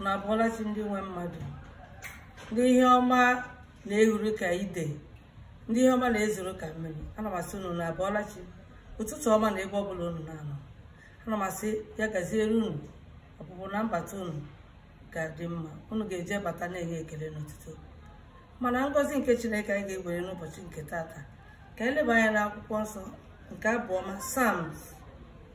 na abọọla chi ndị nwe mmadụ ndị ihe ọma na-ehuru ka ide ndị ihe ọma na-ezoro ka mmiri ana m asị unu na abọọla chi ụtụtụ ọma na ebe ọbụla unu na-anọ ana m asị ya gaziere unu ọpụpụ na mbata unu ga-adị mma unu ga-eje bata na-enye ekele n'otuto ma na ngọzi nke chineke anyị ga-ewere n'ụbọchị nke taata ka anyị leba anya n'akwụkwọ nsọ nke abụọma psalms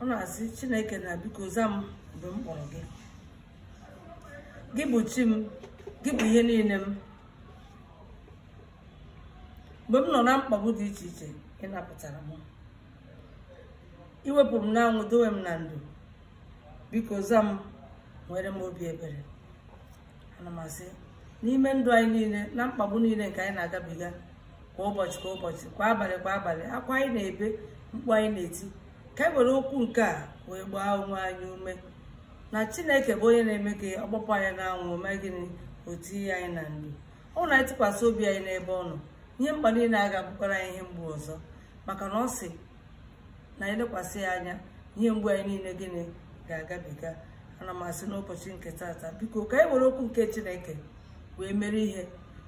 ọ na-asị chineke na biko za m mgbe m kpọrọ gị gị bụ chi m gị bụ ihe niile m mgbe m nọ na mkpagbu dị iche iche ị napụtara m i wepụ m n'anwụ dowe m na ndo biko za m nwere m obi ebere ana m asị n'ime ndụ anyị niile na mkpagbu niile nke anyị na-agabiga kwa ụbọchị kwa ụbọchị kwa abalị kwa abalị akwa anyị na-ebe mkpu anyị na-eti ka e were okwu nke a wee gbaa onwe anyị ume na chineke bụ onye na-eme ka ọ kpọpụ anyị n'anwụ ọ mee gịnị o tinye anyị na ndo ọ wụ na anyị tụkwasị obi anyị n'ebe ọ nọ ihe mkpa niile a ga-abụkwara anyị ihe mgbu ọzọ maka na ọ sị na anyị lekwasị ya anya ihe mgbu anyị niile gịnị ga-agabiga ana m asị n'ụbọchị nke taata biko ka anyị were okwu nke chineke wee mere ihe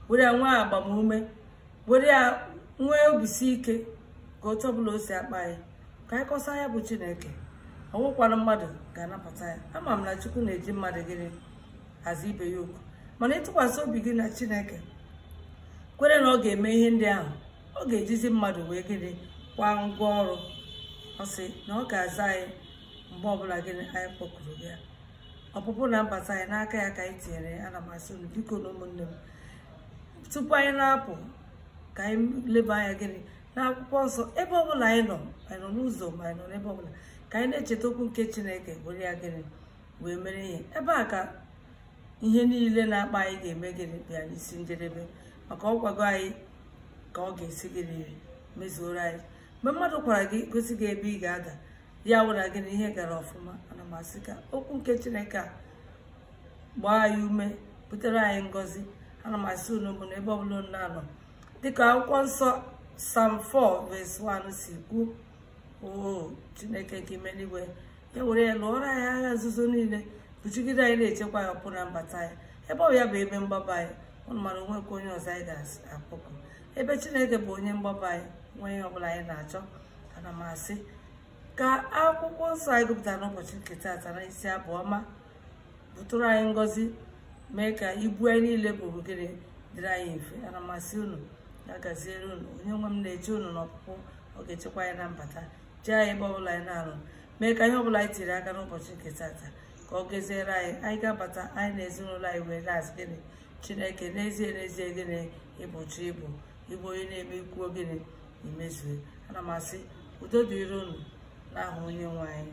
were ya nwee agbamume were ya nwee obisi ike ka otu ọbụla o si akpa anyị ka anyị kọsa ya bụ chineke ọ wụkwara mmadụ ga-anapụta ya ama m na chukwu na-eji mmadụ gịnị aza ibe ya oku mana ịtụkwasị obi gị na chineke kwere na ọ ga-eme ihe ndị ahụ ọ ga-ejizi mmadụ wee gịnị kwa ngwa ọrụ ọ sị na ọ ga-aza anyị mgbe ọbụla gịnị anyị kpọkuru ya ọpụpụ na mbata anyị n'aka ya ka anyị tinyere ya ana m asị unu bikonụ ụmụnne m tupu anyị na-apụ ka anyị leba anya gịnị n'akwụkwọ nsọ ebe ọbụla anyị nọ anyị nọ n'ụzọ ma anyị nọ n'ebe ọbụla ka anyị na-echeta okwu nke chineke were ya gịnị wee mere ihe ebe a ka ihe niile na-akpa anyị ga-eme gịnị bịa n'isi njedebe maka ọ gwago anyị ka ọ ga-esi gịnị mezuoro anyị mgbe mmadụ kwara gị gosi gị ebe ị ga-ada ya wụ na gịnị ihe gara ọfụma ana m asị ka okwu nke chineke a gbaa anyị ume butere anyị ngọzi ana m asị unu ụmụnna ebe ọbụla unu na-anọ dịka akwụkwọ nsọ psalm 4 verse 1 si kwuo o chineke nke ime n'igwe e were ya lụọrọ anyị agha nzuzo niile bụchigide anyị na-echekwa ya ọpụpụ na mbata ya ebe ọ ya bụ ebe mgbaba anyị ụnụ mara o nwekwa onye ọzọ anyị ga-akpọku ebe chineke bụ onye mgbaba anyị nwee ihe ọbụla anyị na-achọ ana m asị ka akwụkwọ nsọ anyị gụpụtara n'ụbọchị nke taata na isi abụ ọma butere anyị ngọzi mee ka ibu anyị niile bụ ogere dịrị anyị mfe ana m asị unu ya gaziere unu onye nwe m na-eche unu n'ọpụpụ ọ ga-echekwa anyị na mbata tie anyị ebe ọbụla anyị na-arụ mee ka ihe ọbụla anyị tiri aka n'ụbọchị nke tata ka ọ gaziere anyị anyị ga-abata anyị na ezinụlọ anyị wee na-asị gịnị chineke n'ezie n'ezie gịnị ị bụ chi ị bụ ị bụ onye na-eme i kwuo gịnị i mezue ana m asị udo dịrị unu n'aha onye nwe anyị